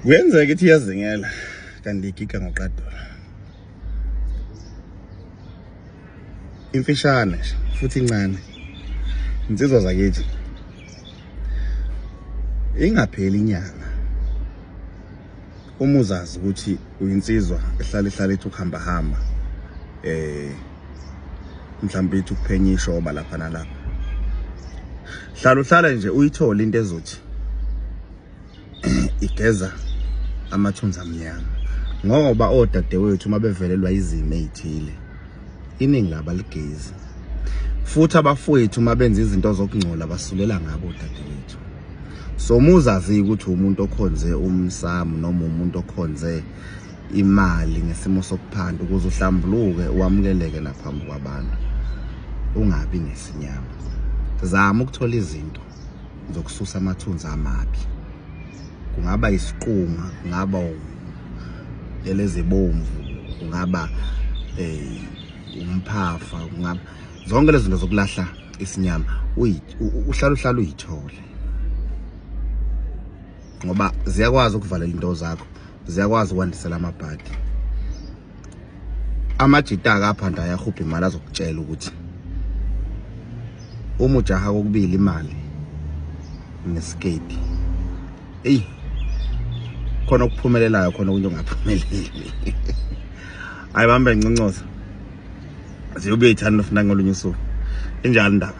kuyenzeka ukuthi iyazingela kanti igiga ngoqadula imfishane futhi incane insizwa zakithi ingapheli inyanga Uma uzazi ukuthi uyinsizwa ehlala ihlala ithi ukuhamba hamba eh mhlawumbe ithi ukuphenya ishoba lapha nalapha. Hlala uhlala nje uyithole into ezothi igeza amathunza amnyama ngoba odadewethu uma bevelelwa izimo ezithile iningi laba ligezi futhi abafowethu uma benza izinto zokungcola basulela ngabo odadewethu so muzazi ukuthi umuntu okhonze umsamo noma umuntu okhonze imali ngesimo sokuphanda ukuze uhlambuluke wamukeleke naphambi kwabantu ungabi nesinyama zama ukuthola izinto zokususa amathunzi amabi kungaba isiqunga kungaba elezibomvu kungaba eh umphafa kungaba zonke lezi zinto zokulahla isinyama uhlala uhlala uyithole ngoba ziyakwazi ukuvalela into zakho ziyakwazi ukwandisela amabhadi amajita akaphanda ayahubha imali azokutshela ukuthi uma ujaha kokubili imali nesiketi eyi khona okuphumelelayo khona okunye ongaphumeleli hayi bambe ncincoza ziyobetha nofuna ngolunye usuku injalo indaba